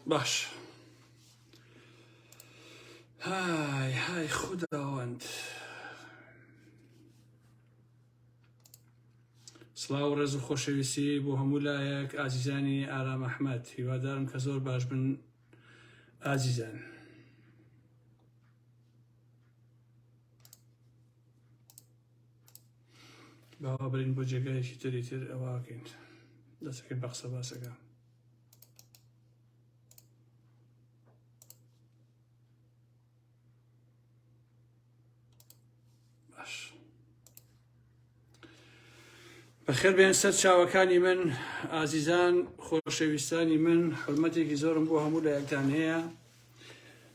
باش های های خوداوەند سڵاو ڕێز و خۆشەویستی بۆ هەموو لایەک ئازیزانی ئارام ئەحمد هیوادارم کە زۆر باش بن ئازیزان. باوا برین بۆ جێگایەکی تری تر ئەوواکەین دەسەکەی بەقسە باسەکە باش بەخێر بێن سەر چاوەکانی من ئازیزان خۆشەویستانی من حرمەتێکی زۆرم بۆ هەموو لایەکتان هەیە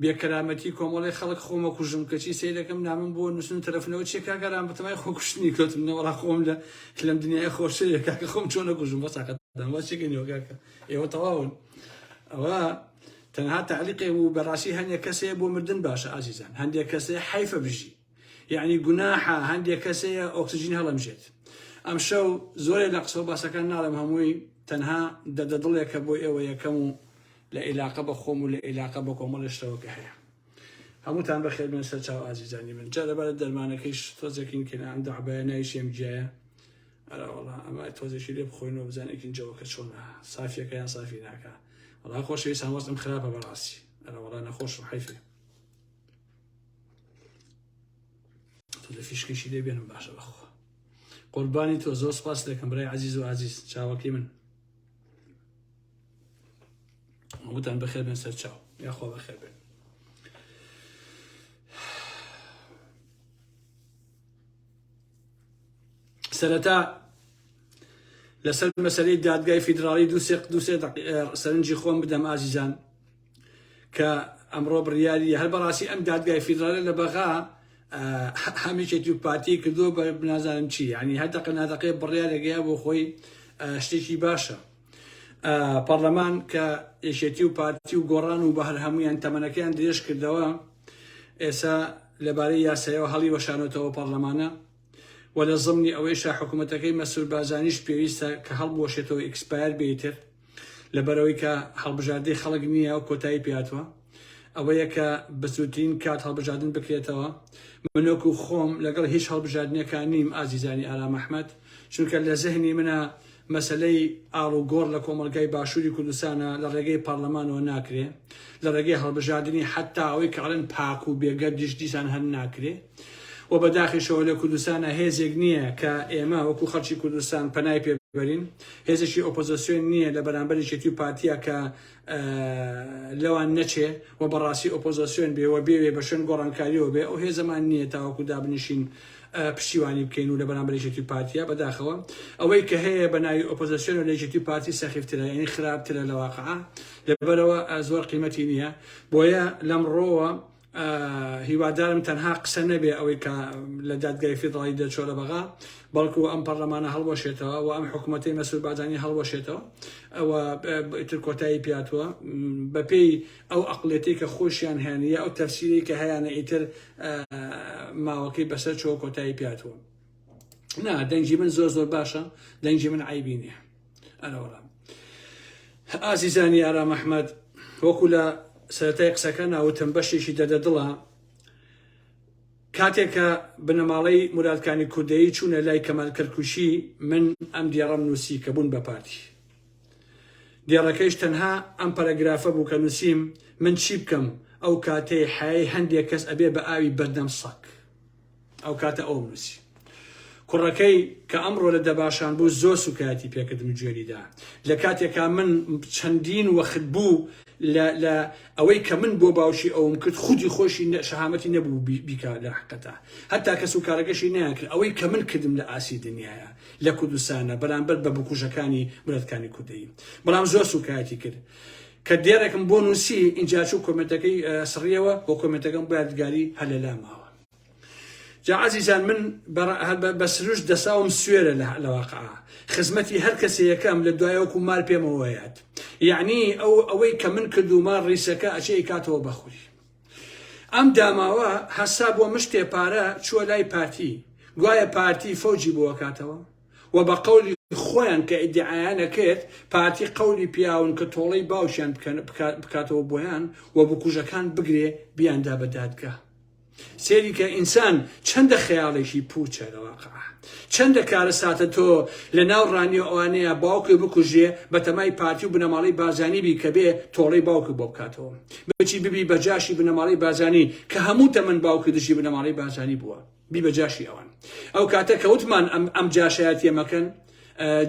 بێ کەرامەتی کۆمەڵی خەڵک خۆمە کوژم کەچی سەیرەکەم نامم بۆ نووسن تەرەفنەوە چێ کاگەران بەتەمای خۆ کوشتنی کەوتم نەوەڕا خۆم لە لەم دنیای خۆشەیە کاکە خۆم چۆن نەکوژم بە ساقەتدان وا چێکەنیەوە کاکە ئێوە تەواون ئەوە تەنها تعلیقێ و بەڕاستی هەندێک کەسەیە بۆ مردن باشە ئازیزان هەندێک کەسەیە حیفە بژی یەعنی گوناحە هەندێک کەس هەیە ئۆکسجین هەڵەمژێت ئەمشەو زۆرێ لە قسە و باسەکان ناڵێم هەمووی تەنها دەدە دڵێکە بۆ ئێوە یەکەم و لە ئیلاقە بە خۆم و لە ئیلاقە بە کۆمەڵی شتەوەکە هەیە هەمووتان بەخێر بێن سەر چاو ئازیزانی من جا لەبارە دەرمانەکەیش تۆزێکین کە ئەم دەعبایە ناویشی ئەم گیایە ئەراوەڵا ئەمە تۆزێکی لێ بخۆینەوە بزانێکین جەوەکە چۆنە سافیەکەیان سافی ناکە وڵا خۆشەویستان وەستم خراپە بەڕاستی ئەراوەڵا نەخۆشم حیفێ تۆ فیشکیشی لێ بێنم باشە بەخۆ قوربانی تۆ زۆر سپاس دەکەم برای عزیز و عزیز چاوەکەی من وتان بەخێر بێن سەر چاو یاخۆ بەخێر بێن سەرەتا لەسەر مەسلەی دادگای فیدراڵی دوسێق دوسێ سەرنجی خۆم بدەم ئازیزان کە ئەمڕۆ بڕیاری هەر بەڕاستی ئەم دادگای فیدراالە لە بەغا هەمیشە دوو پارتی کردووە بە بنازانم چی ینی هەر دەقە نادەقێ بڕیارێکەیە بۆ خۆی شتێکی باشە پەرلەمان کە یەکێتی و پارتی و گۆڕان و بە هەر هەمویان تەمەنەکەیان درێژ کردەوە ئێسا لەبارەی یاسایەوە هەڵی وەشانەتەوە پەرلەمانە و لە زمنی ئەوەیشە حکوومەتەکەی مەسرور بازانیش پێویستە کە هەڵبوەشێتەوە ئیکسپایر بێتر لەبەرئەوەی کە هەڵبژاردەی خەڵک نییە و کۆتایی پێهاتووە، ئەوەیە کە بەسوودترین کات هەڵبژاردن بکرێتەوە، من وەکو خۆم لەگەڵ هیچ هەڵبژاردنێکا نیم ئازیزانی ئارام ئەحمەد، چونکە لە زهنی منە مەسەلەی ئاڵ و گۆڕ لە کۆمەڵگای باشووری کوردستانا لە ڕێگەی پارلەمانەوە ناکرێ، لە ڕێگەی هەڵبژاردنی حەتتا ئەوەی کە ئەڵێن پاک و بێگەردیش دیسان هەر ناکرێ. وە بە داخیشەوە لە کوردستانا هێزێک نیە کە ئێمە وەکو خەڵکی کوردستان پەنای پێ بەرین هێزێکی ئۆپۆزسیۆن نیە لە بەرامبەر یەکێتی و پارتیا کە لەوان نەچێ و بەڕاستی ئۆپۆزسیۆن بێ و بێوێ بە شوێن گۆڕانکاریەوە بێ ئەو هێزەمان نیە تاوەکو دابنیشین پشتیوانی بکەین و لە بەرامبەر یەکێتی پارتیا بەداخەوە ئەوەی کە هەیە بە ناوی ئۆپۆزسیۆن و لە یەکێتی پارتی سەخیفترە یعنی خراپترە لە واقعا لەبەرەوە زۆر قیمەتی نیە بۆیە لەمڕۆوە هیوادارم تەنها قسە نەبێ ئەوەی کە لە دادگای فیدڕاڵی دەرچۆرە بەغا بەڵکو ئەم پەرلەمانە هەڵوەشێتەوە و ئەم حکوومەتەی مەسور بادانی هەڵوەشێتەوە ئەوە ئیتر کۆتایی پیاتوە بەپێی ئەو ئەقلێتی کە خۆشیان هێنە ئەو تەفسیری کە هەیەە ئیتر ماوەکەی بەسەر چۆ کۆتایی پیاتوە نا دەنگی من زۆر زۆر باشە دەنگی من عیبینە ئەرەوەڵا ئازیزانی ئارام ئەحمد وەکو لە سەرەتای قسەکە ناوتم بەشێکی دەدە دڵە کاتێکە بنەماڵەی مرادکانی کوردەیی چوونە لای کەمال کەرکوشی من ئەم دیێڕم نووسی کە بوون بە پارتی دێڕەکەیش تەنها ئەم پەرەگرافە بوو کە نووسیم من چی بکەم ئەو کاتەی حای هەندێک کەس ئەبێ بە ئاوی بەردەم سەک ئەو کاتە ئەوەم نووسی. کوڕەکەی کە ئەمڕۆ لە دەباشان بوو زۆر سووکایەتی پێ کردم و گوێری دا. لە کاتێکا من چەندین وەخت بوو لە لە ئەوەی کە من بۆ باوکی ئەوم کرد خودی خۆیشی شەهامەتی نەبوو بیکا لە حەقەتا. هەتا کەسوکارەکەشی نەیانکرد ئەوەی کە من کردم لە ئاستی دنیایە لە کوردستانا بەرامبەر بە بکوژەکانی ملەتکانی کوردەیی. بەڵام زۆر سووکایەتی کرد. کە دێڕێکم بۆ نووسی ئینجا چوو کۆمێنتەکەی سڕیەوە و کۆمێنتەکەم بۆ یادگاری هەر لە لا ماوە جا عزیزان من بە سروش دەساوم سوێرە لە واقع خزمەتی هەر کەسێ یەکەم لە دوایەوەکو مار پێمەوەیات یعنی ئەو ئەوەی کە من کردومە ڕیسەکە ئەچێ کاتەوە بەخوری ئەم داماوە هەسا بۆ مشتێ پارە چووە لای پارتی گوایە پارتی فەوجی بۆ کاتەوە وە بە قەولی خۆیان کە ئیدعایان ئەکرد پارتی قەولی پیاون کە تۆڵەی باوکیان بکاتەوە بۆیان وە بکوژەکان بگرێ بیاندا بە دادگا سێری کە ئینسان چەندە خەیاڵێکی پوچە لە واقعا چەندە کارە ساتە تۆ لە ناو ڕانیە ئەوانەیە باوکێ بکوژێ بە تەمای پارتی و بنەماڵی بازانی بی کە بێ تۆڵەی باوکی بۆ بکاتەوە بچی ببی بە جاشی بنەماڵی بازانی کە هەموو تەمەن باوکی دژی بنەماڵی بازانی بووە بی بە جاشی ئەوان ئەو کاتە کە وتمان ئەم ئەم جاشایەتیە مەکەن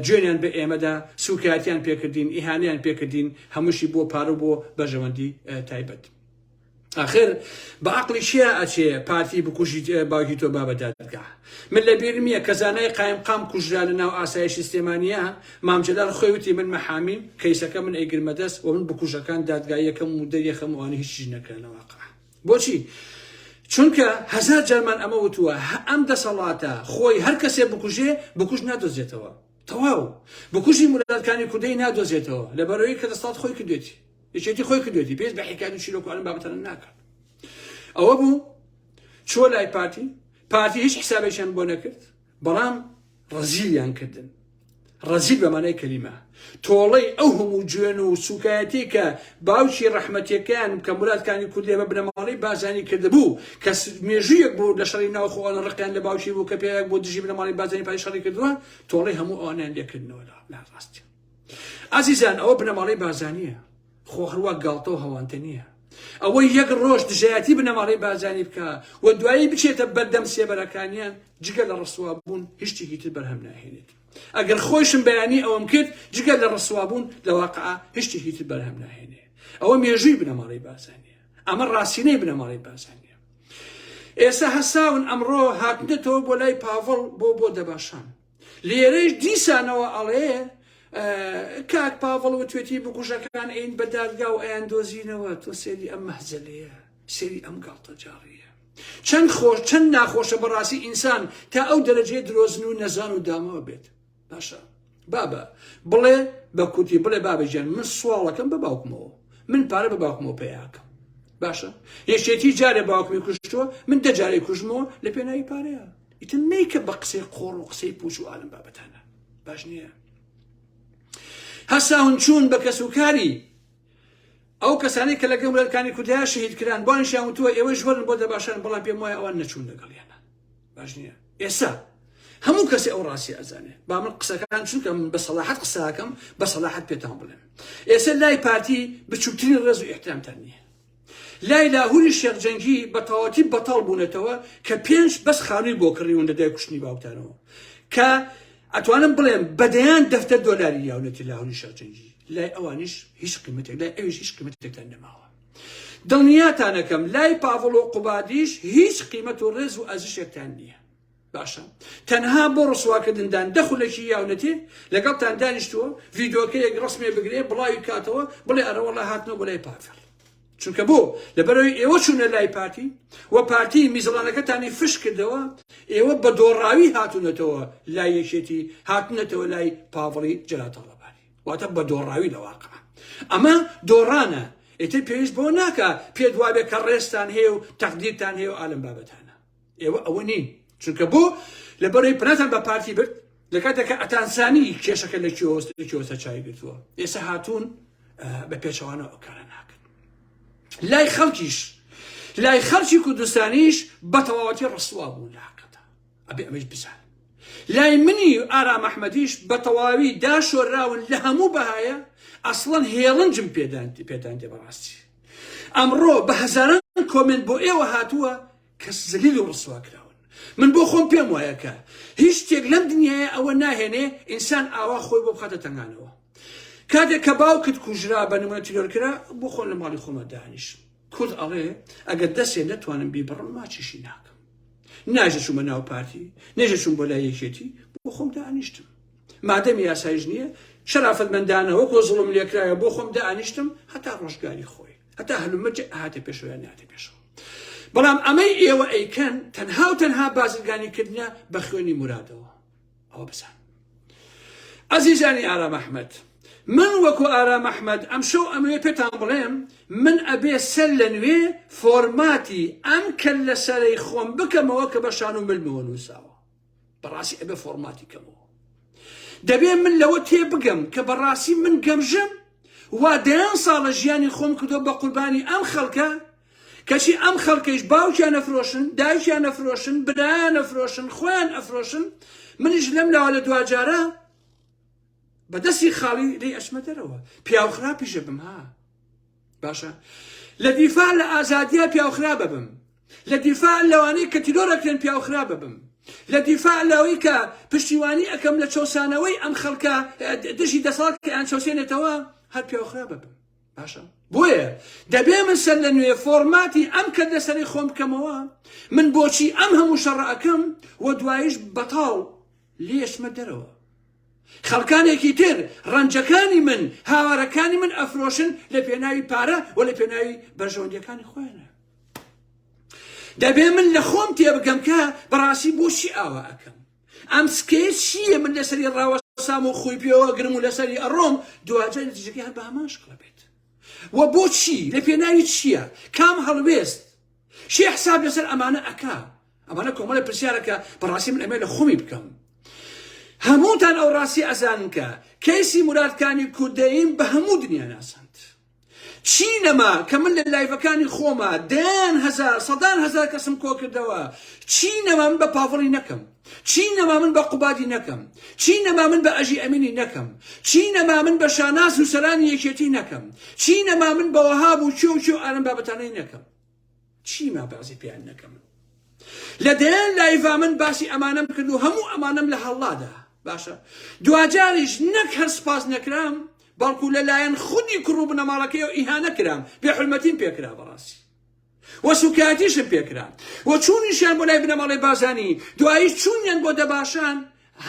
جوێنیان بە ئێمەدا سوکایەتیان پێکردین ئیهانیان پێکردین هەمووشی بۆ پارە بۆ بەژەوەندی تایبەت ئاخر بە عقلی چیا ئەچێ پارتی بکوژیت باوکی تۆ بابە دادگا من لە بیرم نییە کە زانای قایم قام کوژرا لە ناو ئاسایشی سلێمانە مامجلال خۆی وتی من مەحامی کەیسەکە من ئەیگرمە دەست و من بکوژەکان دادگایەکەم و دەریەخەموانی هیچ نەکرێنەوەقع بۆچی؟ چونکە هەزار جارمان ئەمە وتووە ئەم دەسەڵاتە خۆی هەر کەسێ بکوژێ بکوژ نادۆزێتەوە تەواو بکوژی مرادکانی کوردەی نادۆزێتەوە لەبەرەوەی کە دەسەڵات خۆی کردێتی یەکێتی خۆی کردێتی پێست بە حکایت و چیرۆک ئەم بابەتەن ناکات ئەوە بوو چۆ لای پارتی پارتی هیچ حسابێکیان بۆ نەکرد بەڵام ڕەزیلیان کردن ڕەزیل بە مانای کەلیمە تۆڵەی ئەو هەموو جوێن و سوکایەتی کە باوکی ڕەحمەتیەکەیان کە مرادکانی کوردێ بە بنەماڵی بازانی کردبوو کە مێژوویەک بوو لە شەڕی ناوخۆوانە ڕقیان لە باوکی بوو کە پێیان بۆ دژی بنەماڵی بازانی پای شەڕی کردووە تۆڵی هەموو ئەوانیان لێکردنەوە لە ڕاستیان ئازیزان ئەوە بنەماڵی بازانیە خۆ هەروا گاڵتە و هەوانتە نییە ئەوەی یەک ڕۆژ دژایەتی بنەماڵەی بارزانی بکە و دوایی بچێتە بەردەم سێبەرەکانیان جگە لە ڕسوابوون هیچتیکی تر بەرهەم ناهێنێت ئەگەر خۆشم بەیانی ئەوەم کرد جگە لە ڕسوابوون لە واقع هیچتیکی تر بەرهەم ناهێنێ ئەوە مێژووی بنەماڵەی بارزانیە ئەمە ڕاستینەی بنەماڵەی بارزانیە ئێستا هەساون ئەمڕۆ هاتنێتەوە بۆ لای پاڤڵ بۆ بۆ دەباشان لێرەیش دیسانەوە ئەڵێ کاک پاڤڵ وتوێتی بکوژەکان ئەین بە دادگا و ئەیان دۆزینەوە تۆ سێری ئەم مەهزەلەیە سێری ئەم گاڵتە جاڕیە چەند خۆش چەند ناخۆشە بەڕاستی ئینسان تا ئەو دەرەجەی درۆزن و نەزان و دامەوە بێت باشە بابە بڵێ بە کوردی بڵێ بابەجان من سواڵەکەم بە باوکمەوە من پارە بە باوکمەوە پیاکەم باشە یەشێتی جارێ باوکمی کوشتووە من دەجارێ کوژمەوە لە پێناوی پارەیە ئیتر مەیکە بە قسەی قۆڕ و قسەی پوچ و ئالم بابەتانە باش نییە هەساون چوون بە کەس و کاری ئەو کەسانی کە لەگەم لەکانی کوردیا شەهید کران بۆنشیان وتووە ئێوە ژوەرن بۆ دەباشان بەڵام پێم وایە ئەوان نەچوون لەگەڵیانە باش نییە ئێستا هەموو کەسی ئەو ڕاستی ئەزانێ با من قسەکان چونکەم بە سەلاحەت قساکەم بە سەلاحەت پێتان بڵێم ئێستا لای پارتی بچووترین ڕێز و احترامتان نییە لای لاهوری شێخ جەنگی بەتەواوەتی بەتاڵ بوونەتەوە کە پێنج بەس خانووی بۆ کڕیون لە دوای کوشتنی باوکتانەوە کە ئەتوانم بڵێم بەدەیان دەفتەر دۆلاری یاونەتی لاهوری شێخ جەنگی لای ئەوانیش هیچ قیمەتێک لای ئەویش هیچ قیمەتێکتان نەماوە دڵنیاتانەکەم لای پاڤڵ و قوبادیش هیچ قیمەت و ڕێز و ئەزشێکتان نییە باشە تەنها بۆ ڕسواکردندان دە خولەکی یاونەتێ لەگەڵتان دانیشتووە ڤیدۆکەیەک ڕسمێ بگرێ بڵاوی کاتەوە بڵێ ئەرەوەڵە هاتنە بۆ لای پافێڵ چونکە بۆ لەبەرەوەی ئێوە چوونە لای پارتی و پارتی میزڵانەکەتانی فش کردەوە ئێوە بە دۆڕاوی هاتوونەتەوە لای یەکێتی هاتنەتەوە لای پاڤڵی جراتەڵەبانی واتە بە دۆڕاوی لەواقع ئەمە دۆڕانە ئێتر پێویست بۆ ناکە پێدوابێ کە ڕێستان هەیە و تەقدیرتان هەیە و ئالم بابەتانە ئێوە ئەوە نین چونکە بۆ لە بەرەی پناتان بە پارتی برد لە کاتێکە ئەتانسانی کێشەکە لە کیۆسە چای گرتووە ئێستا هاتوون بە پێچەوانە ئەوکارە ناکەن لای خەڵکیش لای خەڵکی کوردستانیش بە تەواوەتی ڕسووا بوو لە حقەتە ئەبێ ئەمەش بزان لای منی ئارام ئەحمەدیش بە تەواوی داشۆراون لە هەموو بەهایە ئەسڵەن هێڵنجم پێدان پێدان دێ بەڕاستی ئەمڕۆ بە هەزاران کۆمێنت بۆ ئێوە هاتووە کە زلیل و ڕسوا کراون من بۆ خۆم پێم وایە کە هیچ شتێک لەم دنیاە ئەوە ناهێنێ ئینسان ئاوا خۆی بۆ بخاتە تەنگانەوە کاتێک کە باوکت کوژرا بە نمونە تیرۆر کرا بۆ خۆن لە ماڵی خۆمە دانیش کورد ئەڵێ ئەگەر دەسێ نەتوانم بیبڕم ماچیشی ناکەم ناژە چوومە ناو پارتی نێژە چوون بۆ لای یەکێتی بۆ خۆم دانیشتم مادەمی یاسایش نییە شەرافەتمەندانە وەکۆ زڵم لێکرایە بۆ خۆم دانیشتم هەتا ڕۆژگاری خۆی هەتا هەلومەج هاتە پێشویان ناتە پێشەوە بەڵام ئەمەی ئێوە ئەیکەن تەنها و تەنها بازرگانی کردە بە خوێنی مرادەوە ئەوە بزان ئازیزانی ئارام ئەحمد من وەکو ئارام ئەحمد ئەم شەو ئەمەوێ پێتان بڵێم من ئەبێ سەر لە نوێ فۆرماتی ئەم کەل لە سەرەی خۆم بکەمەوە کە بە شان و ملمەوە نووساوە بەڕاستی ئەبێ فۆرماتی کەمەوە دەبێ من لەوە تێ بگەم کە بەڕاستی من گەمژم وا دەیان ساڵە ژیانی خۆم کردو بە قوربانی ئەم خەڵکە کەچی ئەم خەڵکەیش باوکیان نەفرۆشن دایکیان نەفرۆشن برایان نەفرۆشن خۆیان ئەفرۆشن منیش لەم لاوە لە دواجارە بەدەستی خاڵی لی ئەشمە دەرەوە پیاو خراپیشە بم ها باشە لە دیفاع لە ئازادیە پیاوخرا ببم لە دیفاع لەوانەی کە تیرۆرەکرێن پیاوخرا ببم لە دیفاع لەوەی کە پشتیوانی ئەەکەم لە چەسانەوەی ئەم خەڵکە دژی دەسەڵات کە ئەیان چەوسێنێتەوە هەر پیاوخرا ببم باشە بۆیە دەبێ من سەر لە نوێ فۆرماتی ئەم کە دەسەری خۆم بکەمەوە من بۆچی ئەم هەموو شەڕەکەم و دوایش بەتاڵ لێشمە دەرەوە خەڵکانێکی تر ڕەنجەکانی من، هاوارەکانی من ئەفرۆشن لە پێناوی پارە و لە پێناوی بەرژەوەندیەکانی خۆیانە. دەبێ من لە خۆم تێبگەم کە بەڕاستی بۆچی ئاوا ئەکەم. ئەم سکەیە چییە من لەسەری ڕاوەسام و خۆی پێوە گرم و لەسەری ئەڕۆم دوواجار نتیجەکەی هەر بە هەمان شکڵە بێت. و بۆچی لە پێناوی چییە؟ کام هەڵوێست؟ شێ حساب لەسەر ئەمانە ئەکا؟ ئەمانە کۆمەڵێ پرسیارە کە بەڕاستی من ئەمێ لە خۆمی بکەم هەمووتان ئەو ڕاستی ئەزانن کە کەیسی مرادکانی کوردەیم بە هەموو دنیا ناسەند چی نەما کە من لە لایڤەکانی خۆما دەیان هەزار سەدان هەزار کەسم کۆ کردەوە چی نەما من بە پاڤڵی نەکەم چی نەما من بە قوبادی نەکەم چی نەما من بە ئەژی ئەمینی نەکەم چی نەما من بە شاناز و سەرانی یەکێتی نەکەم چی نەما من بە وەهاب و چێ و چێ و ئارم بابەتانەی نەکەم چیما بەعزی پێیان نەکە من لە دەیان لایڤا من باسی ئەمانەم کرد و هەموو ئەمانەم لە هەڵڵادا باشە دواجاریش نەک هەر سپاس نەکرام بەڵکو لەلایەن خودی کوڕ و بنەماڵەکەی و ئیهانە کرام بێ حلمەتیم پێکرا بەڕاستی وە سوکایەتیشم پێکرا و چوونیشیان بۆ لای بنەماڵی بازانی دوایی چوونیان بۆ دەباشان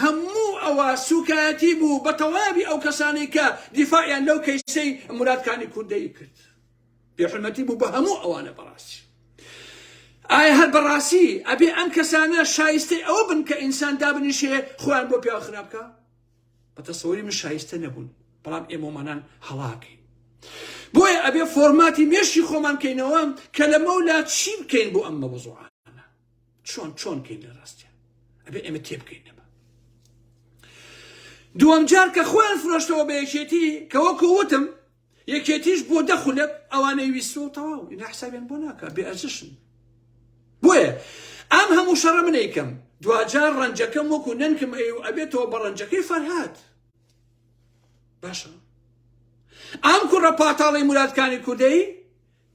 هەموو ئەوە سوکایەتی بوو بە تەواوی ئەو کەسانی کە دیفاعیان لەو کەیسەی مرادکانی کوردەی کرد بێحورمەتی بوو بە هەموو ئەوانە بەڕاستی ئایا هەر بەڕاستی ئەبێ ئەم کەسانە شایستەی ئەوە بن کە ئینسان دابنیشێ خۆیان بۆ پیا خراپکە بە تەسەوەری من شایستە نەبوون بەڵام ئێمەمانان هەڵاکەین بۆیە ئەبێ فۆرماتی مێشی خۆمان کەینەوە کە لە مەولا چی بکەین بۆ ئەم مەوەزوعانە چۆن چۆن کەین لە ڕاستیان ئەبێ ئێمە تێ بکەین نەبە دووەم جار کە خۆیان فرۆشتەوە بە یەکێتی کە وەکو وتم یەکێتیش بۆ دە خولەک ئەوانەی ویستوە و تەواو ئینا حسابیان بۆ ناکە بێ ئەرزشن بۆیە ئەم هەموو شەڕە منەیکەم دواجار ڕەنجەکەم وەکو نەنکم ئەی و ئەبێتەوە بە ڕەنجەکەی فەرهاد باشە ئەم کوڕە پاتاڵی مرادکانی کوردەی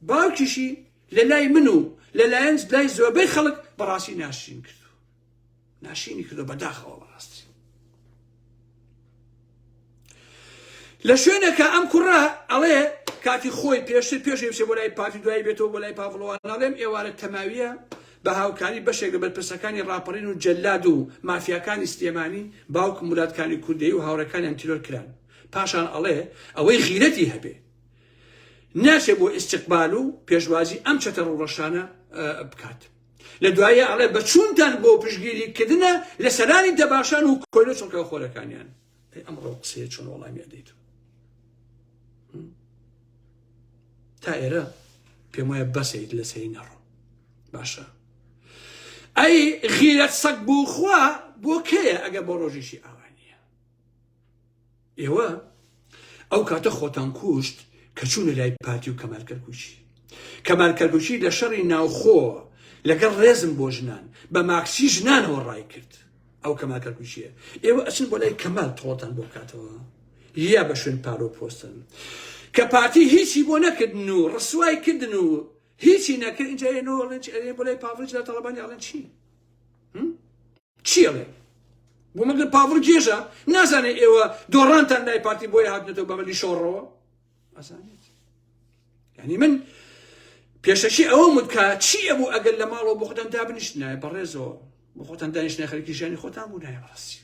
باوکیشی لە لای من و لە لایەن لای زۆربەی خەڵک بەڕاستی ناشرین کردو ناشینی کردو بەداخەوە بەڕاستی لە شوێنەکە ئەم کوڕە ئەڵێ کاتی خۆی پێشتر پێشی بچێ بۆ لای پارتی دوای بێتەوە بۆ لای پاڤڵەوە ناڵێم ئێوارە تەماویە بە هاوکاری بەشێک لە بەرپرسەکانی ڕاپەڕین و جەلاد و مافیاکانی سلێمانی باوک مولاتکانی کوردەی و هاوڕەکانیان تیرۆر کران پاشان ئەڵێ ئەوەی غیرەتی هەبێ ناچێ بۆ ئیستقبال و پێشوازی ئەم چەتە ڕوڕەشانە بکات لە دوایە ئەڵێ بە چونتان بۆ پشگیری کردنە لە سەرانی دەباشان و کۆلە چڵکە خۆرەکانیان ئەمڕۆ قسەیە چۆن وەڵامی ئەدەیت تا ئێرە پێم وایە بەسەیت لە سەری نەڕۆ باشە ئەی غیرەت سەگ بوو خوا بۆ کەیە ئەگە بۆ ڕۆژیشی ئاوانە ئێوە ئەو کاتە خۆتان کوشت کە چوونە لای پارتی و کەمال کەرکوچی کەمال کەرکوچی لە شەڕی ناوخۆ لەگەڵ ڕێزم بۆ ژنان بە ماکسی ژنانەوە ڕای کرد ئەو کەمال کەرکوچیە ئێوە ئەچن بۆ لای کەمال تۆڵتان بۆ بکاتەوە یا بە شوێن پارۆ پۆستن کە پارتی هیچی بۆ نەکردن و ڕسوای کردن و هیچی نەکرد ئینجا ئێنۆڵێن ئەێ بۆ لای پاڤڵی لە تەڵەبانی ئاڵێن چی؟ چی ئەڵێ بۆ مەگەر پاڤڵ گێژە نازانێت ئێوە دۆڕانتان لای پارتی بۆیە هاتنێتەوە بەمەلی شۆڕەوە ئەزانێت ینی من پێشەکی ئەوە مدکە چی ئەبوو ئەگەر لە ماڵەوە بۆ خۆتان دا بنیشتنایە بەڕێزەوە بۆ خۆتان دانیشتە خەرکی ژیانی خۆتان بوو نایە بەڕاستی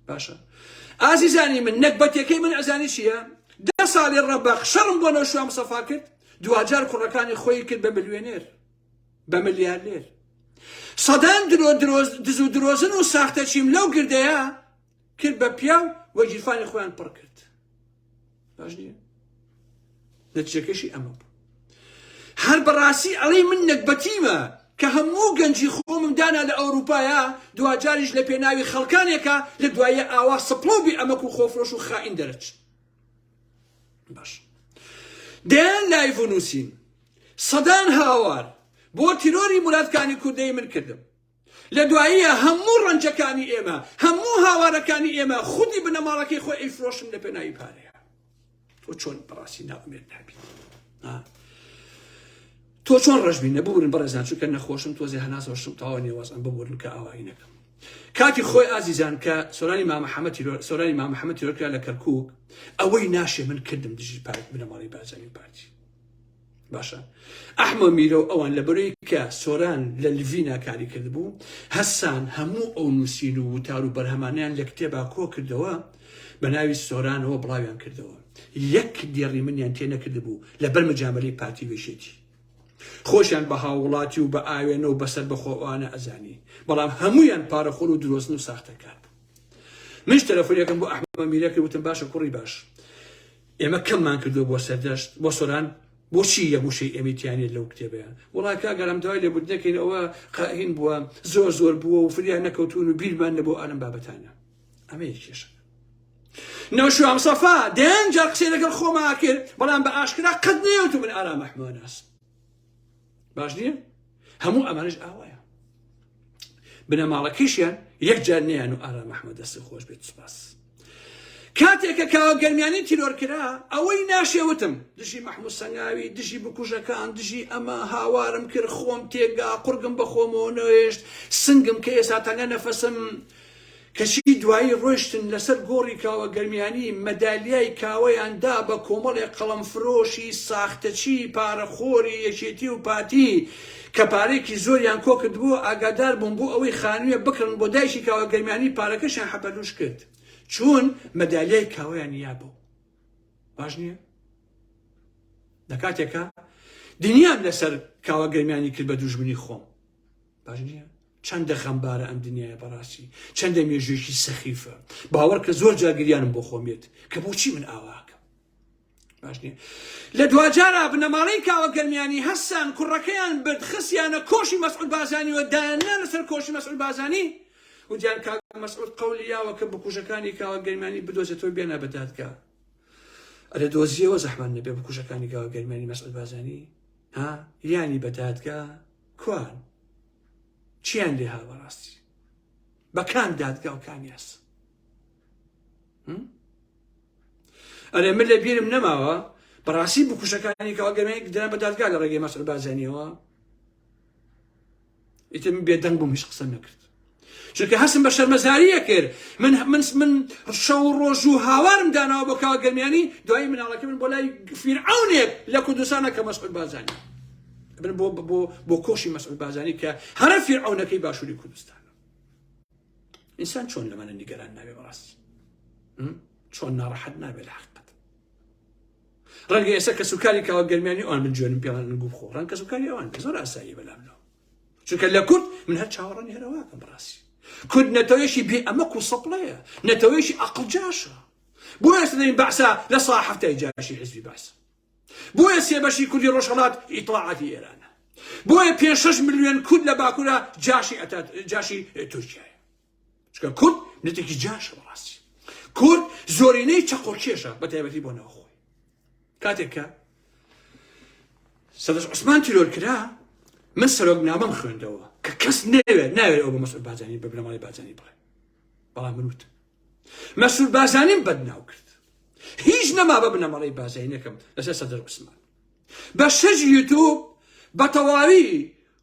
باشە ئازیزانی من نەکبەتەکەی من ئەزانی چییە دە ساڵی ڕەبەق شەڕم بۆ نەوشوام سەفا کرد دوجار کوڕەکانی خۆی کرد بە بلوێنێر بە ملیارنێر سەدان درۆ درۆز دزو درۆزن و ساختە چیم لەو گردەیە کرد بە پیاو و گیرفانی خۆیان پڕ کرد باش نییە نەتیجەکەشی ئەمە بوو هەر بەڕاستی ئەڵەی من نەگبەتیمە کە هەموو گەنجی خۆمم دانا لە ئەوروپایا دواجاریش لە پێناوی خەڵکانێکە لە دوایە ئاوا سپڵۆبی ئەمەک و خۆفرۆش و خائین دەرەچ باش دەیان لایڤ و نووسین سەدان هاوار بۆ تیرۆری مرادکانی کوردەی من کردم لە دواییە هەموو ڕەنجەکانی ئێمە هەموو هاوارەکانی ئێمە خودی بنەماڵەکەی خۆی ئەیفرۆشن لە پێناوی پارەیە تۆ چۆن بەڕاستی ناومێت نابی تۆ چۆن ڕەش بی نەبوورن بەڕێزان چونکە نەخۆشم تۆزێ هەناسەوە شم تاوە نێوەزم ببوورن کە ئاوایی نەکەم کاتی خۆی ئازیزان کە سۆرانی مامەحەمە تیرۆر سۆرانی مامەحەمە تیرۆرکرا لە کەرکک ئەوەی ناشێ من کردم دژی پارت بنەماڵی بارزانی پارتی باشە ئەحمە میرە و ئەوان لە بەرەی کە سۆران لە لڤی ناکاری کردبوو هەسان هەموو ئەو نووسین و وتار و بەرهەمانیان لە کتێبا کۆ کردەوە بە ناوی سۆرانەوە بڵاویان کردەوە یەک دێڕی منیان تێ نەکردبوو لە بەر مجامەلەی پارتی وێشێتی خۆشیان بە هاووڵاتی و بە ئاوێنە و بەسەر بەخۆوانە ئەزانی بەڵام هەمویان پارەخۆر و درۆزن و ساختەکار بوو منش تەلەفۆنەکەم بۆ ئەحمە میرە کرد وتم باشە کوڕی باش ئێمە کەممان کردو بۆ سەردەشت بۆ سۆران بۆچی یە گوشەی ئەمیتیانێت لەو کتێبیان وڵا کاگەرم دوای لێ بودنەکەین ئەوە قاهین بووە زۆر زۆر بووە و فریان نەکەوتون و بیرمان نەبوو ئالم بابەتانە ئەمە یەکێشە نەوشیوام سەفا دەیان جار قسەی لەگەڵ خۆما کرد بەڵام بە ئاشکرا قەت نێوت من ئارا مەحمۆناس باش نییە هەموو ئەمانش ئاوایە بنەماڵەکەشیان یەک جار نیان و ئارا مەحمە دەستی خۆش بێت سپاس کاتێکە کاوە گەرمیانی تیرۆر کرا ئەوەی ناشێوتم دژی مەحموو سەنگاوی دژی بکوژەکان دژی ئەمە هاوارم کرد خۆم تێگا قورگم بە خۆمەوە نەوێشت سنگم کە ئێسا تەنگە نەفەسم کەچی دوایی ڕۆیشتن لەسەر گۆڕی کاوە گەرمیانی مەدالیای کاوەیان دا بە کۆمەڵێ قەڵەم فرۆشی ساختەچی پارە خۆری یەکێتی و پارتی کە پارەیەکی زۆریان کۆکردبوو ئاگادار بوون بۆ ئەوەی خانویە بکڕن بۆ دایکی کاوە گەرمیانی پارەکەشیان حەپەلوش کرد چوون مەدالیای کاوەیان یابوو باش نییە لە کاتێکا دنیام لەسەر کاوە گەرمیانی کرد بە دوژمنی خۆم. باش نییە چەندە غەمبارە ئەم دنیاە بەڕاستی چەندە مێژوێکی سەخیفە باوەڕ کە زۆر جاگریانم بۆ خۆمێت کە بۆچی من ئاواکەم باش نیە لە دواجارا بنەماڵەی کاوە گەرمیانی هەستان کوڕەکەیان برد خسیانە کۆشی مەسعود بازانی وە دایاننا لەسەر کۆشی مەسعود بازانی وجان کاک مەسعود قەولیاوە کە بکوژەکانی کاوە گەرمانی بدۆزێتەوە بێنە بەدادگا ئەرە دۆزیەوە زەحمان نەبێ بکوژەکانی کاوە گەرمانی مەسعود بازانی ها یانی بەدادگا کوان؟ چیان لێ هات بەڕاستی بە کام دادگا و کام یاس ئەرێ من لە بیرم نەماوە بەڕاستی بکوشەکانی کاڵگەمەیەک دران بە دادگا لە ڕێگەی مەسەر بازانیەوە ئیتر من بێدەنگ بووم هیچ قسەم نەکرد چونکە هەستم بە شەرمەزاری ئەکرد من من من شەو و ڕۆژ و هاوارم داناوە بۆ کاوە گەرمیانی دوایی مناڵەکە من بۆ لای فیرعەونێک لە کوردستانە کە مەسعود بازانی بن بۆ بۆ بۆ کۆشی مەسعود بازانی کە هەرە فیرعەونەکەی باشووری کوردستان ئینسان چۆن لە منە نیگەران نابێ بەڕاستی چۆن ناڕەحەت نابێت لە حقت ڕەنگە ئێستا کە سوکاری کاوە گەرمیانی ئەوان من جوێنم پێوان گوو خۆ ڕەنگ کە سوکاری ئەوان زۆر ئاسایی بەلامەوە چونکە لە کورد من هەر چاوەڕە نێرەواکەم بڕاستی کورد نەتەوەیەکی بێ ئەمەک و سەپڵەیە نەتەوەیەکی ئەقل جاشە بۆ ئێستا دەین بەعسا لە سا هەفتای جاشی حزبی باس بۆیە سێ بەشی کوردی ڕۆژهڵات ئیتڵاعاتی ئێرانە بۆیە پێ شش ملیۆن کورد لە باکوورە جاشی ئەتا جاشی تورکیایە چکە کورد نەتێکی جاشە بەڕاستی کورد زۆرینەی چەقۆکێشە بە تایبەتی بۆ ناوخۆی کاتێککە سەدەش عوسمان تیرۆر کرا من سەرۆک نامەم خوێندەوە کە کەس نەوێت ناوێت ئەو بە مەسعود بازانی بە بنەماڵی بازانی بڵێ بەڵام منوت مەسعود بازانیم بەدناو کرد هیچ نەما بە بنەماڵی بازای نەکەم لەسەر سەدەر عوسمان بە شەژ یوتوب بە تەواوی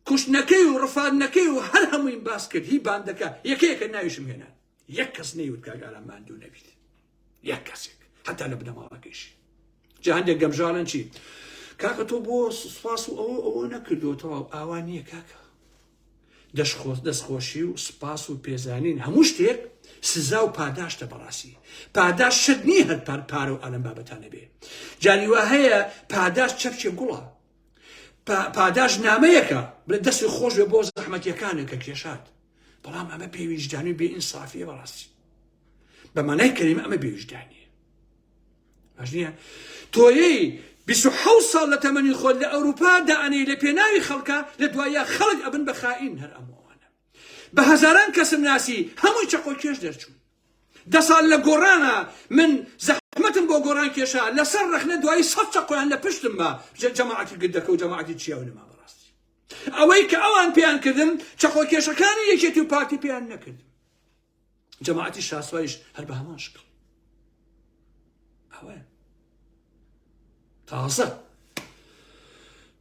کوشتنەکەی و ڕفاندنەکەی و هەر هەموویم باس کرد هی باندەکە یەکە یەکە ناویشم هێنا یەک کەس نەیوت کاک ئارام ماندوو نەبیت یەک کەسێک حتا لە بنەماڵەکەیشی جا هەندێک گەمژانن چی کاکە تۆ بۆ سوپاس و ئەوە ئەوە نەکردوەوە ئاوا نییە کاکە دەشخۆز دەستخۆشی و سوپاس و پێزانین هەموو شتێک سزا و پاداشتە بەڕاستی پاداش شت نییە هەر پار پارە و ئالم بابەتانە بێ جاریوا هەیە پاداش چەپچێ گوڵە پاداش نامەیەکە بلە دەستی خۆش بێ بۆ زەحمەتیەکانە کە کێشات بەڵام ئەمە پێویژدانی بێ ئینسافیە بەڕاستی بە مانای کەیم ئەمە بێویژدانی ئەژنیە تۆیەی 26 ساڵ لە تەمەنی خۆل لە ئەوروپا دانەی لە پێناوی خەڵکە لە دوایە خەڵک ئەبن بە خائین هەر ئەمەوانە بە هەزاران کەسم ناسی هەمووی چەقۆ کێش دەرچوون دە ساڵ لە گۆڕانا من زەحمەتم بۆ گۆڕان کێشا لەسەر ڕەخنە دوایی سەد چەقۆیان لە پشتم بە جەماعەتی گردەکە و جەماعەتی چیاو نەما بەڕاستی ئەوەی کە ئەوان پێیان کردم چەقۆ کێشەکانی یەکێتی و پارتی پێیان نەکردم جەماعەتی شاسوایش هەر بە هەمان شکڵ ئەوە تازە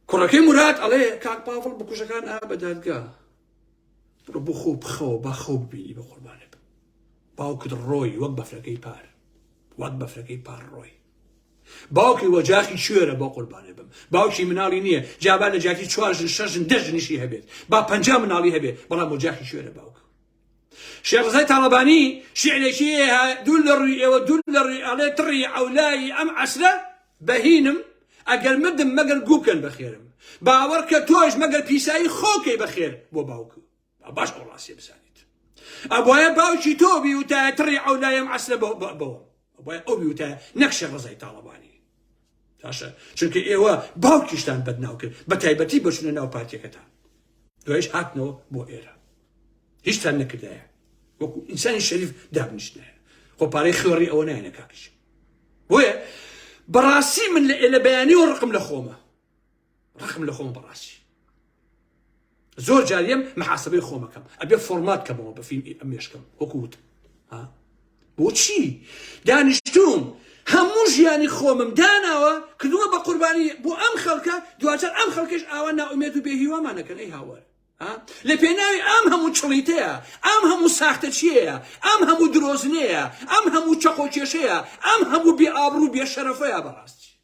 کوڕەکەی مراد ئەڵێ کاک پاڵ بکوژەکان ئا بە دادگا بڕ بۆ خۆ بخەوە با خەو ببینی بە قوربانە بم باوکت ڕۆی وەک بەفرەکەی پار وەک بەفرەکەی پار ڕۆی باوکی وەجاخی شوێرە بۆ قوربانێ بم باوکی مناڵی نییە جابا لە جاکی چوارژن شەژن دەژنیشی هەبێت با پەنج مناڵی هەبێت بەڵام وەجاخی شوێرە باوکە شێخ ڕزای تاڵەبانی شیعرێکی هەیە، دوور لە ڕووی ئێوە دوور لە ڕووی ئەڵێ تڕی عەولایی ئەم عەسرە بەهینم، ئەگەر مردم مەگەر گوو بکەن بە خێرم، باوەڕکە تۆش مەگەر پیسایی خۆو کەی بە خێر بۆ باوک و با باش ئەو ڕاستیە بزانیت ئەبوایە باوکی تۆ بی وتایە تڕی عەولای ئەم عەسرە بەوەم. بۆیە ئەو بیوتایە نەک شێخ ڕەزای تاڵەبانی باشە چونکە ئێوە باوکیشتان بەدناو کرد بە تایبەتی بەچونە ناو پارتەکەتان دوایش هاتنەوە بۆ ئێرە هیچتان نەکردایە وەکو ئینسانی شەریف دابنیشتنایە خۆ پارەی خوێڕی ئەوە نایەنە کاکش بۆیە بەڕاستی من لە ئێلە بەیانی و ڕقم لە خۆمە ڕقم لە خۆم بەڕاستی زۆر جار لێم محاسبەی خۆمەکەم ئەبێ فۆرمات کەمەوە بە فیلم ئەمێشکم وەکووت بۆچی دانیشتوم هەموو ژیانی خۆمم داناوە کردووە بە قوربانی بۆ ئەم خەڵکە دوجار ئەم خەڵکەش ئاوا ناومێت و بێهیوامانەکەن ئەی هاوار لە پێناوی ئەم هەموو چڵیتەیە ئەم هەموو ساختە چیەیە ئەم هەموو درۆزنەیە ئەم هەموو چەقۆ کێشەیە ئەم هەموو بێ ئابڕ و بێ شەرەفەیە بەڕاستی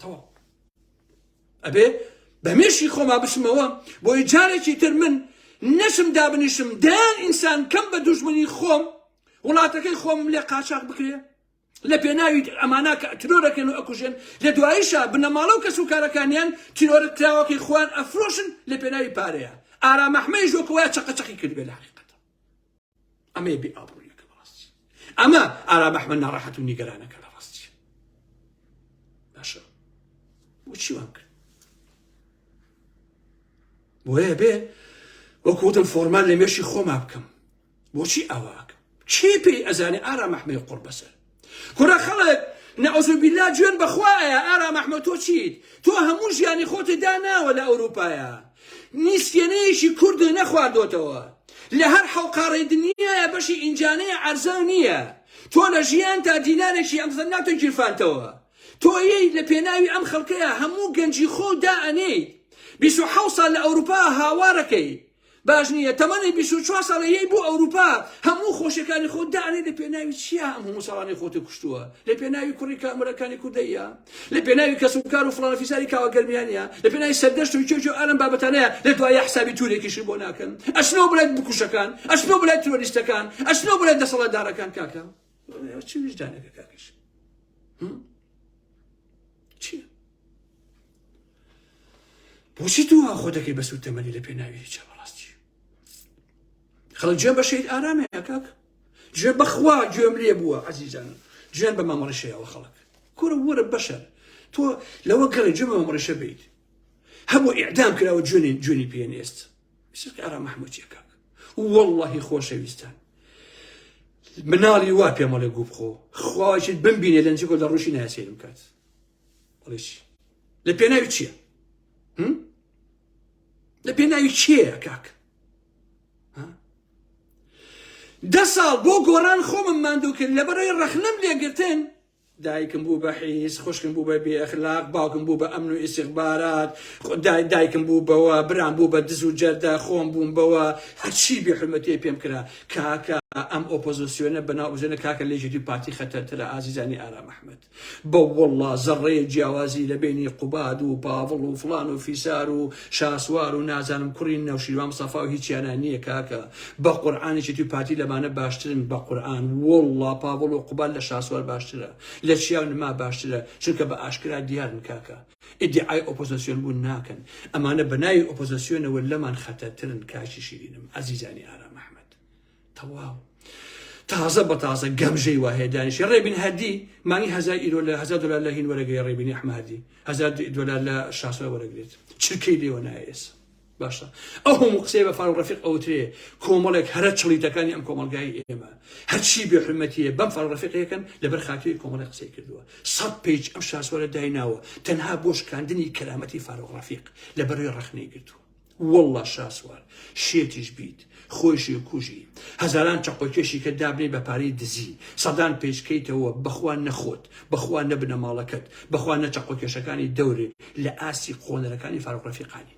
تەواو ئەبێ بە مێشی خۆما بشمەوە بۆی جارێکی تر من نەشم دابنیشم دەیان ئینسان کەم بە دوژمنی خۆم وڵاتەکەی خۆم لێ قاچاق بکرێ لە پێناوی ئەمانە کە ترۆرەکەن و ئەکوژێن لە دواییشە بنەماڵە و کەس و کارەکانیان تیرۆرە کراوەکەی خوان ئەفرۆشن لە پێناوی پارەیە ئارامەحمەی ژۆکەوەی چقەچەقی کرد بێ لە حقیقەت ئەمەیە بێ ئابڕوویەکە بەڕاستی ئەمە ئارام ئەحمەد ناڕەحەت و نیگەرانەکە لە ڕاستی باشە بۆچی وام کرد بۆیە بێ وەکوتم فۆرمان لە مێشی خۆما بکەم بۆچی ئاواکە چی پێی ئەزانێ ئارام ئەحمەی قڕ بەسەر کورە خەڵک نعوذ باللە جوێن بەخوا ئەیا ئارام احمد تۆ چیت تۆ هەموو ژیانی خۆتت داناوە لە ئەوروپایا نیسفێنەیەکی کوردت نەخواردۆتەوە لە هەر حەوقاڕەی دنیایە بەشی ئینجانەیە عەرزاو نییە تۆ لە ژیانتا دینارێکی ئەم زەن ناتۆ گیرفانتەوە تۆ یەی لە پێناوی ئەم خەڵکەیا هەموو گەنجی خۆو دا ئەنێیت بیست و حەوت ساڵ لە ئەوروپا هاوارەکەی باش نیە تەمەنی بیست و چوار ساڵە یەی بۆ ئەوروپا هەموو خۆشەکانی خۆت دانێ لە پێناوی چیا ئەم هەموو ساڵانی خۆتە کوشتووە لە پێناوی کوڕی کامەرەکانی کوردەیە لە پێناوی کەس و کار و فڵانە فیساری کاوە گەرمیانە لە پێناوی سەردەشت و کێ و ئارم بابەتانەیە لە دوایە حسابی تورێکیشی بۆ ناکەن ئەچنەوە بلای بکوشەکان ئەچنەوە بلای ترۆریستەکان ئەچنەوە بلای دەسەڵاتدارەکان کاکە چی ویژدانەکە کاکەش چیە بۆچی تۆ وا خۆ دەکەی بە سوتەمەنی لە پێناوی هیچە بەڕاستی خەڵک جوێن بە شەید ئارامەیە کاک جوێن بەخوا گوێم لێ بووە عزیزان جوێن بە مامەڕشەیەوە خەڵک کورە وەرە بەشەر تۆ لەوە گەڕێ جوێن بە مامەڕشە بیت هەموو ئیعدام کراوە جوێنی جوێنی پێنێست سقی ئارام مححمودیە کاک واللهی خۆشەویستان مناڵی وا پێمەڵێ گوو بخۆ خواچیت بمبینێ لەنجگۆ لە ڕوشی ناسێرم کات ڕیشی لە پێناوی چییە لە پێناوی چیەیە کاک دە ساڵ بۆ گۆران خۆمم ماندوو کرد لە بەرەی ڕەخنم لێگرتن دایکم بوو بە حیز خوشکم بوو بە بێخلاق باوکم بوو بە ئەمن و ئیسیخبارات دایکم بوو بەوە برام بوو بە دز و جەردە خۆم بووم بەوە هەرچی بێحرمەتی پێم کرا کاکە ئەم ئۆپۆزیسیۆنە بەناو بژێنە کاکە لێژێتی پارتی خەتەرترە ئازیزانی ئارام ئەحمد بە وەڵڵا زەڕڕەیەک جیاوازی لە بەینی قوباد و پاڤڵ و فڵان و فیسار و شاسوار و نازانم کوڕی نەوشیروان مستەفا و هیچیانا نیە کاکە بە قورعان یەکێتی و پارتی لەمانە باشترن بە قورعان وەڵڵا پاڤڵ و قوباد لە شاسوار باشترە لە چیا و نما باشترە چونکە بە ئاشکرا دیارن کاکە ئیدیعای ئۆپۆزەسیۆن بوون ناکەن ئەمانە بە ناوی ئۆپۆزەسیۆنەوە لەمان خەتەرترن کاکی شیرینم ئەزیزانی ئارام ئەحمەد. تەواو تازە بە تازە گەمژەی وا هەیە دانیشی ڕێبین هەدی مانی هزار ئیرۆ لە هزار دلار لە هین وەرەگری ڕێبینی ئەحمەدی هزار دلار لە شاسۆ وەرەگرێت چرکەی لێوە نایێس باشە ئەو هەموو قسەی بە فاروق ڕەفیق ئەوترێ کۆمەڵێک هەرە چڵیتەکانی ئەم کۆمەلگای ئێمە هەرچی بێ حرمەتیە بەم فاروق ڕەفیقەکەن لەبەر خاتری کۆمەڵی قسەی کردووە سەد پیج ئەم شاسوارە دایناوە تەنها بۆ شکاندنی کەرامەتی فاروق ڕەفیق لە بەروێ ڕەخنەی گرتووە واللە شاسوار شێتیش بیت خۆیشی کوژی هەزاران چەقۆکێشی کە دابنێی بە پارەی دزی سەدان پێچکەیتەوە بەخوا نەخۆت بەخوا نەبنە ماڵەکەت بەخوا نە چەقۆکێشەکانی دەورێ لە ئاستی قۆنەرەکانی فاروق رەفیقانی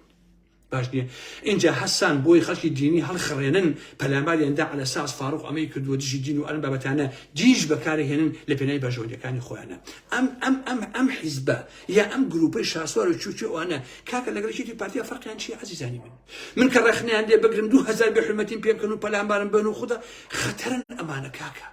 باش نییە اینجا هەستان بۆی خەڵکی دینی هەڵخڕێنن پەلاماریاندا على ساس فاروق ئەمەی کردووە دژی دین و ئەم بابەتانە دیش بەکارهێنن لە پێنای بەرژەوەندەکانی خۆیانە ئەم ئەم ئەم ئەم حیزبە یا ئەم گروپەی شاسوار و چوچو ئەوانە کاکە لەگەڵ یەکێتی پارتیا فەرقیان چیە عەزیزانی من من کە ڕەخنەیان لێ بگرم دوو هەزار بێ حرمەتیم پێ بکەن و پەلامبارم بن و خودە خەتەرن ئەمانە کاکە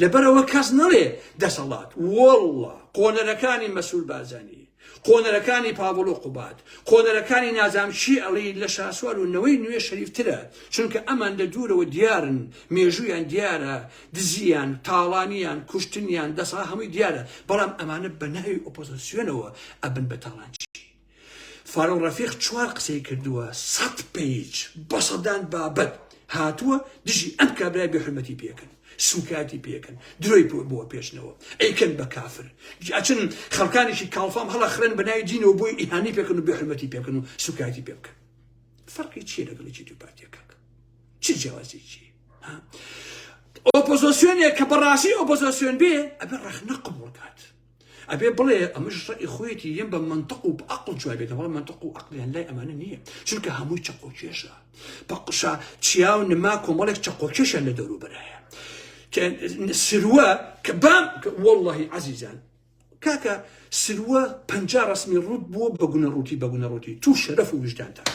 لەبەرەوە کەس نەڵێ دەسەڵات وەڵڵا قۆنەرەکانی مەسول بارزانی قۆنەرەکانی پاوڵ و قوبات قۆنەرەکانی نازام چی ئەڵی لە شاسوار و نەوەی نوێ شەریفترە چونکە ئەمان لە دوورەوە دیارن مێژویان دیارە دزیان تاڵانیان کوشتنیان دەسا هەمووی دیارە بەڵام ئەمانە بە ناوی ئۆپۆزسیۆنەوە ئەبن بە تاڵانچی فاروق رەفیق چوار قسەی کردووە سەد پیج بە سەدان بابەت هاتووە دژی ئەم کابرای بێ حرمەتی پێکن سوکایەتی پێکن درۆی پۆ بۆ پێشنەوە ئەیکەن بە کافر ئەچن خەڵکانێکی کاڵفام هەڵە خرن بەناوی دینەوە بۆی ئیهانی پێکن و بێ حرمەتی پێکن و سوکایەتی پێ بکەن فەرقی چیە لەگەڵی چی دوو پارتیەکە چ جیاوازێکی ئۆپۆزۆسیۆنێک کە بەڕاستی ئۆپۆزۆسیۆن بێ ئەبێ ڕەخنە قبول کات ئەبێ بڵێ ئەمەش ڕێی خۆیەتی یەم بە منطق و عقل جواب بێت بەڵام منطق و عقلیان لای ئەمانە نییە چونکە هەمووی چەقۆکێشە پقشە چیا و نما کۆمەڵێک چەقۆکێشە لە دەوروبەرایە سروە کە بام واللهی عزیزان کاکە سروە پەنجا ڕەسمی ڕووت بووە بە گونە ڕووتی بە گونە ڕووتی تو شەرەف و وژدانتان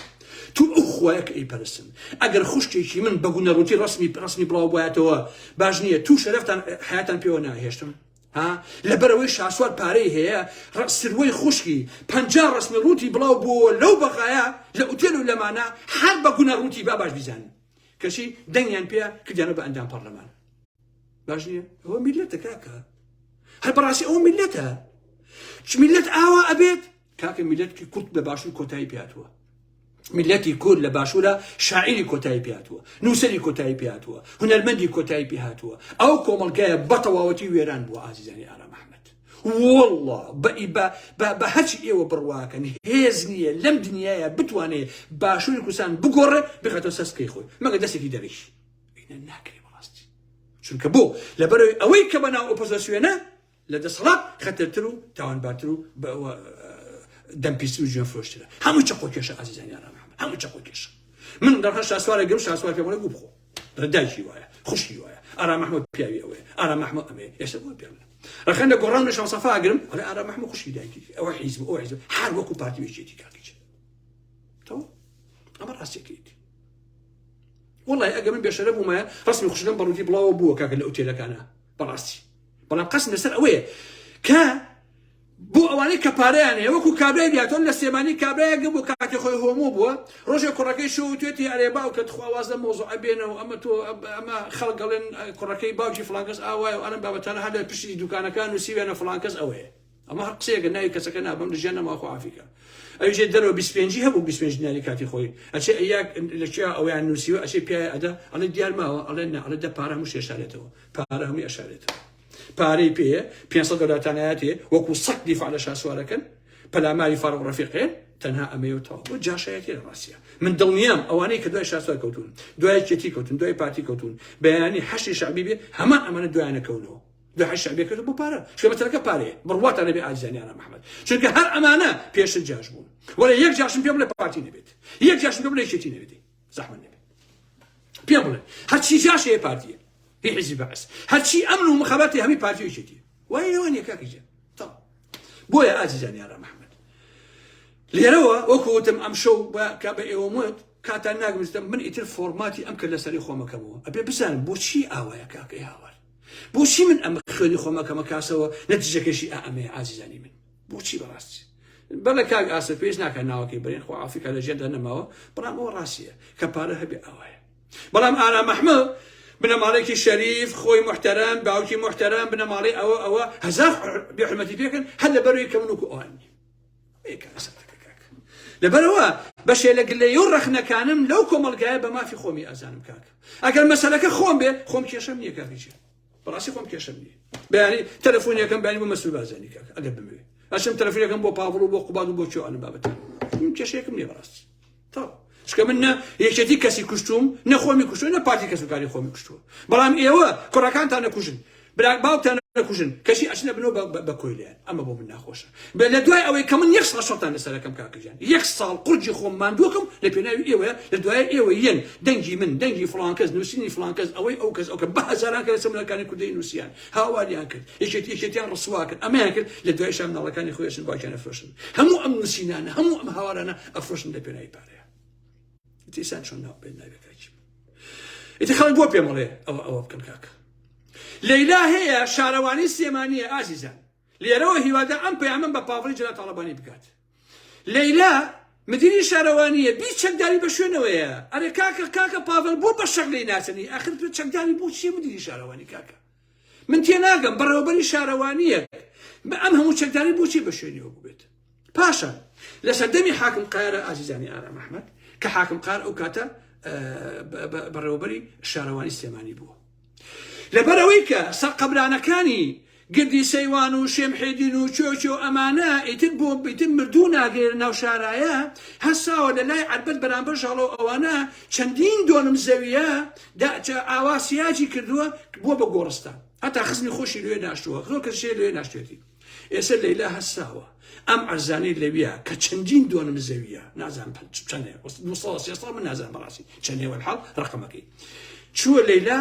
تو ئەو خوایە کە ئەیپەرستن ئەگەر خوشکێکی من بە گونە ڕووتی ڕەسمی ڕەسمی بڵاو بایەتەوە باش نییە تو شەرەفتان حیاتان پێوە ناهێشتم ها لەبەرەوەی شاسوار پارەی هەیە ڕەسروەی خوشکی پەنجا ڕەسمی ڕووتی بڵاو بووە لەو بەغایە لە ئوتێل و لەمانە هەر بە گونە ڕووتی با باش بیزانن کەچی دەنگیان پێ کردیانە بە ئەندام پەرلەمان باش نییە ئەوە میلەتە کاکە هەر بەڕاستی ئەوە میلەتە چ میلەت ئاوا ئەبێت کاکە میلەتکی کورد لە باشوور کۆتایی پیاتوە میلەتی کورد لە باشوورە شاعری کۆتایی پیاتوە نووسری کۆتایی پیاتوە هونەرمەندی کۆتایی پێهاتوە ئەو کۆمەلگایە بەتەواوەتی وێران بووە ئازیزانی ئارام ئەحمد والله بە هەچ ئێوە بڕواکەن هێز نییە لەم دنیاە بتوانێت باشووری کوردستان بگۆڕێ بخاتەوە سەسکەی خۆی مەگە دەستێکی دەریش بینە ناکرێ بەڕاستی چونکە بۆ لەبەرەوەی ئەوەی کە بەناو ئۆپۆزسیۆنە لە دەسەڵات خەتەرتر و تاوانبارتر و دەمپیسی و جوێن فرۆشترە هەموو چەقۆ کێشە ئازیزانی ئارام محمد هەموو چەقۆ کێشە من دەڕە شاسوارە گەم شاسوار پێ بڵێ گوو بخۆ رداکی وایە خوشی وایە ئارام محمد پیاوی ئەوەیە ئارام محمد ئەمەیە ئێستا بۆ پێ ڕخەن لە گۆڕان شان سەفا ئەگرم ئەڵێ ئارام محمد خوشی دایکی ئەوە حیزب ئەو حیزب هەر وەکو پارتی وێژێتی کاکیچ تەوە ئەمە ڕاستێکیت وەڵای ئەگە من بێشەرە بوومە ڕسمی خوشکم بە ڕووتی بڵاوە بووە کاکە لە ئوتێلەکانە بەڕاستی بەڵام قەسم لەسەر ئەوەیە کە بۆ ئەوانەی کە پارەیان هەیە وەکو کابرای دیاتۆن لە سێمانی کابراەگە بۆ کاتی خۆی هۆمۆ بووە ڕۆژێک کوڕەکەی شو توێتی ئەرێ باو کە تخواواز لە مۆزۆ ئەبێنەوە ئەمە تۆ ئەمە خەڵگەڵێن کوڕەکەی باوکی فلانکەس ئاوایە و ئەرم بابەتانە هەر لە پشتی دوکانەکان و سیوێنە فلانکەس ئەوەیە ئەمە هەر قسەیەکە ناوی کەسەکە نابم لە ژیان نەماخۆ عافیکە ئەوژێ دەرەوە 25 هەبوو 25 دیناری کاتی خۆی ئەچێ ئەیاک لە چیا ئەویان نووسیوە ئەچێ پیاە ئەدا ئەڵێ دیار ماوە ئەڵێ نە ئەڵێ دە پارە هەموو شێشارێتەوە پارە هەمووی ئەشارێتەوە پارەی پێ 500 دەلاتانایەتێ وەکو سەک دیفاع لە شاسوارەکەن پەلاماری فارغ ڕەفیقێن تەنها ئەمەیە تاو بۆ جاشایەتی لە ڕاستە من دڵنیام ئەوانەی کە دوای شاسوار کەوتون دوای چێتی کەوتن دوای پارتی کەوتون بەیانی حەشی شعبی بێ هەمان ئەمانە دوایانەکەونەوە دوحە شعبیە کردن بۆ پارە چونکە مەسەلەکە پارەیە بڕواتان نەبێ ئازیزانی ئارام ئەحمەد چونکە هەر ئەمانە پێشت جاش بوون وەلێ یەک جاشم پێ بڵێ پارتی نەبێت یەک جاشم پێ بڵێ یەکێتی نەبێت زەحمەت نەبێت پێ بڵێ هەرچی جاش هەیە پارتیە هی حیزبی بەعس هەرچی ئەمن و مخاباتی هەمی پارتی و یەکێتی وای لەوان یەکاکی جێ تا بۆیە ئازیزانی ئارام ئەحمەد لێرەوە وەکو وتم ئەم شەو بە کە بە ئێوە وت کاتان ناگمزدەم من ئیتر فۆرماتی ئەم کە لەسەری خۆمەکەمەوە ئەبێ بزانم بۆچی ئاوایە کاکەی هاوار بۆچی من ئەم خوێنی خۆم ئەکەمە کاسەوە نەتیجەکەشی ئا ئەمەیە ئازیزانی من بۆچی بەڕاستی بەڵێ کاک ئاسە پێش ناکە ناوەکەی بەرێن خۆ ئافریقا لە ژێندا نەماوە بەڵام ئەوە ڕاستیە کە پارە هەبێ ئەوەیە بەڵام ئارام ئەحمە بنەماڵێکی شەریف خۆی محتەرەم باوکی محتەرەم بنەماڵی ئەوە ئەوە هەزار بێحرمەتی پێکەن هەر لە بەروی کەمن وکو ئەوان نیە بەیەکە قسە ناکە کاکە لەبەرەوە بەشێ لە گلەیە و ڕەخنەکانم لەو کۆمەلگایە بە مافی خۆمی ئازانم کاکە ئەگەر مەسەلەکە خۆم بێ خۆم کێشم نییە کاکیچێ بەڕاستی خۆم کێشم نیە بەیانی تەلەفۆنیەکەم بەنی بۆ مەسول بازانی کاکە ئەگەر بمەوێ ئەشم تەلەفۆنەکەم بۆ پاڤڵ و بۆ قوباد و بۆ چۆ ئەنم بابەتە کێشێکم نیە بەڕاستی تەواو چکە من نە یەکێتی کەسی کوشتوم نە خۆمی کوشتو نە پارتی کەس و کاری خۆمی کوشتووە بەڵام ئێوە کوڕەکانتان نەکوژن برا باوکتان نەکوژن کەشی ئەچنە بنەوە بە کۆیلیان ئەمە بۆ من ناخۆشە بێ لە دوای ئەوەی کە من یەک ساڵ شەتان لەسەرەکەم کاکەجان یەک ساڵ قورجی خۆم ماندووەکەم لە پێناوی ئێوە لە دوای ئێوە یەن دەنگی من دەنگی فلانکەس نووسینی فلانکەس ئەوەی ئەو کەس ئەوکە بە هەزاران کە لە سەمونەکانی کوردی نووسیان هاواریان کرد یەکێت یەکێتیان ڕسوا کرد ئەمەیان کرد لە دوای شام ناڵەکانی خۆشن باکیانە فرۆشن هەموو ئەم نووسینانە هەموو ئەم هاوارانە ئەفرۆشن لە پێناوی پارەیە تیسان چۆن ناو پێ ناوێ کاکی ئیتر خەڵک بۆ پێمەڵێ ئەوە ئەوە بکەن کاک لەیلا هەیە شارەوانی سلێمانیە ئازیزان لێرەوە هیوادە ئەم پەیامم بە پاڤڵی جەلال تاڵەبانی بکات لەیلا مدیری شارەوانیە بی چەکداری بە شوێنەوەیە ئەرێ کاکە کاکە پاڤل بۆ بە شەق لی ناچنی ئەخر چەکداری بۆ چیە مدیری شارەوانی کاکە من تێناگەم بەڕێوەبەری شارەوانییەک بە ئەم هەموو چەکداری بۆچی بە شوێنیەوە ببێت پاشە لە سەردەمی حاکم قارە ئازیزانی ئارام ئەحمد کە حاکم قار ئەو کاتە بەڕێوەبەری شارەوانی سلێمانی بووە لەبەرەوەی کە سەرقەبرانەکانی گردی سەیوان و شێمحێدین و چۆچۆ ئەمانە ئیتر بۆ بیتر مردوو ناگەێر ناو شارایە هەساوە لە لای عربەت بەرامبەر ژاڵەوە ئەوانە چەندین دۆنم زەویە داچە ئاوا سیاجی کردووە بووە بە گۆڕستان هەتا خزمی خۆشی لێ ناشتووە زۆر کە شێ لێ ناشتێتی ئێستا لەیلا هەساوە ئەم ئەرزانی لەویە کە چەندین دۆنم زەویە نازان چەندێ من نازان بەڕاستی چەندێوەل حاڵ ڕقمەکەی چووە لەیلا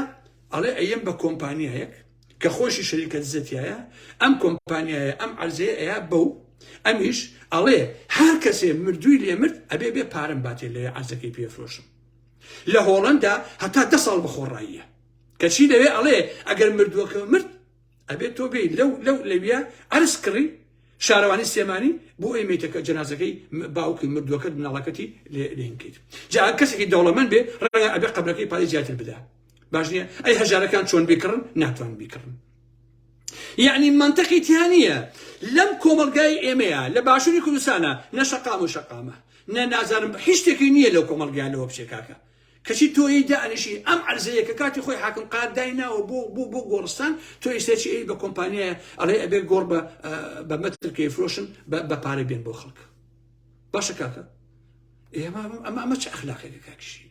ئەڵێ ئەم بە کۆمپانیایەک کە خۆشی شەریکە دزەتیایە ئەم کۆمپانیایە ئەم عەرزەیە ئەیا بەو ئەمیش ئەڵێ هەر کەسێ مردووی لێ مرد ئەبێ بێ پارەم باتێ لێ عەرزەکەی پێفرۆشم لە هۆڵەندا هەتا دە ساڵ بەخۆڕاییە کەچی لەوێ ئەڵێ ئەگەر مردووەکە مرد ئەبێت تۆ بێت لەو لەو لەویە ئەرز کڕی شارەوانی سێمانی بۆ ئەی میتەکە جەنازەکەی باوکی مردووەکە مناڵەکەتی لێنکەیت جا کەسێکی دەوڵەمەند بێ ڕەنگە ئەبێ قەبرەکەی پارەی زیاتر بدا باش نییە ئەی هەژارەکان چۆن بیکڕن ناتوان بیکڕن یعنی منطقی تیا نییە لەم کۆمەلگای ئێمەیە لە باشووری کوردستانە نە شەقام و شەقامە نە نازانم هیچ شتێکی نییە لەو کۆمەلگای لەوە بچێکاکە کەچی تۆی دانیشی ئەم عرزەیە کە کاتی خۆی حاکم قاردای ناوە بۆ بۆ بۆ گۆڕستان تۆ ئیسێکی ئەی بە کۆمپانیایە ئەڵێ ئەبێ گۆڕ بە بە مەترکەی فرۆشن بە پارە بێن بۆ خەڵک باشە کاکە ئێمە ئەمە ئەمە چ ئەخلاقێکە کاکشی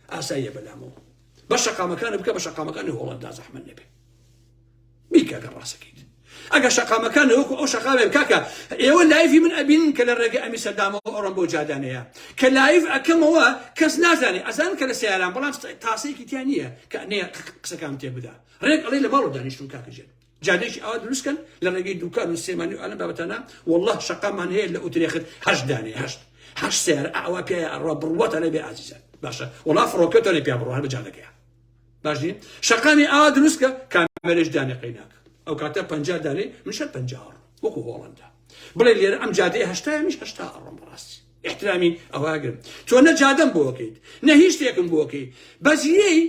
ئاساییە بەلامەوە بە شەقامەکانە بکە بە شەقامەکانی هۆڵندا زەحمە نەبێ بیکەکە ڕاستەکەیت ئەگە شەقامەکان وەکو ئەو شەقامێ بکاکە ئێوە لایفی من ئەبین کە لە ڕێگە ئەمی سەردامەوە ئەڕۆم بۆ جادانەیە کە لایف ئەکەمەوە کەس نازانێ ئەزان کە لە سیاران بەڵام تاسەیەکی تیا نییە کە نێ قسەکان تێ بدا ڕێک ئەڵی لە باڵ دانیشتون کاکەژێت جادەیەکی ئاوا دروست کەن لە ڕێگەی دوکان و سێمانی و ئەلەم بابەتانە وەڵڵاه شەقامان هەیە لە ئوترێخت هەشت دانێ هەشت هەشت سێر ئاوا پیاە ئەڕوا بڕواتە لێ بێ ئازیزە باشە وەڵا فڕۆکەتە لێ پیا بڕوان بە جادەکەیە باش نیم شەقامی ئاوا دروست کە کامێرەش دانێ قەیناک ئەو کاتە پ دانێ منشە پ وەکو هۆڵندا بڵێ لێرە ئەم جادەیە هەشتای میش هەشتا ئەڕۆم بەڕاستی احترامی ئەواگرم تۆ نە جادەم بۆکەیت نە هیچ شتێکم بۆکەی بەجیەی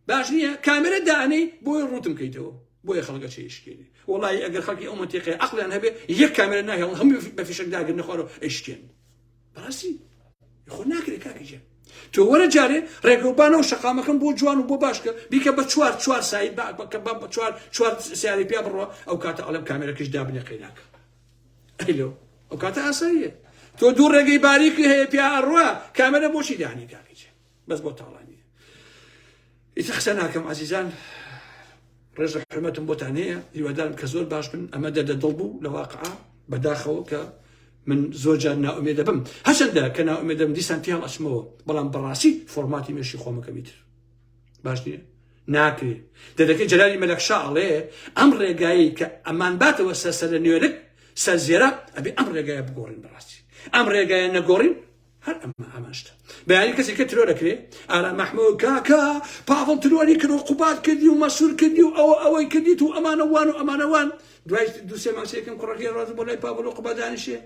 باش نیە کامێرە دانەی بۆی ڕوتم کەیتەوە بۆیە خەڵگە چێشکێنێ وڵی ئەگەر خەڵکی ئەو منتیقی عقلیان هەبێ یەک کامێرە ناهێڵ هەم بە فیشک داگر نەخوارۆ ئەشکێن بەڕاستی خۆ ناکرێت کاکەجێ تۆ وەرە جارێ ڕێگەوبانەوە شقامەکەم بۆ جوان و بۆ باشکە بیکە بە چوار چوار سایت بەکە بە چوار چوار سیاری پیا بڕە ئەو کاتە ئەڵم کامێرەکەش دابنێ قەیناکە ئەلو ئەو کاتە ئاساییە تۆ دوو ڕێگەی باریکی هەیە پیا ئەڕوا کامێرە بۆچی دانی کاکەجێ بەس بۆ تاڵانی ئیتر قسە ناکەم عزیزان ڕێز و حرمەتم بۆتان هەیە هیوادارم کە زۆر باش بن ئەمە دەدە دڵ بوو لە واقعا بەداخەوە کە من زۆر جار ناومێ دەبم هەچەندە کە ناومێ دەم دیسان پیان ئەچمەوە بەڵام بەڕاستی فۆرماتی مێشی خۆمەکەمی تر باش نییە ناکرێ دەدەکەی جەلالی مەلەکشا ئەڵێ ئەم ڕێگایی کە ئەمان باتەوە سەرسەر لە نوێنک سەر زێرە ئەبێ ئەم ڕێگایە بگۆڕین بەڕاستی ئەم ڕێگایە نەگۆڕین هەر ئەمە ئامانجتە بە یاری کەسێک کە ترۆر دەکرێ ئارام مەحموود کاکە پاڤڵ ترۆری کرد و قوباد کردی و مەسوور کردی و ئەوە ئەوەی کردیت و ئەمانەوان و ئەمانەوان دوای دوو سێ ماسەیەکەم کوڕەکەی ڕاز بۆ لای پاڤڵ و قوباد دانیشێ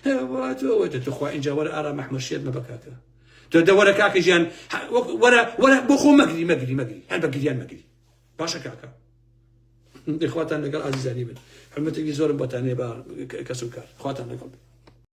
هەوەوە دەتوخوا ئینجا وەرە ئارام مەحموود شێت مەبە کاکە تۆ دەوەرە کاکە ژیان وەرە وەرە بۆ خۆ مەگری مەگری مەگری هەر بە گریان مەگری باشە کاکە دەخواتان لەگەڵ ئازیزانی بن حرمەتێکی زۆرم بۆتانێ بە کەس و کار خواتان لەگەڵ بن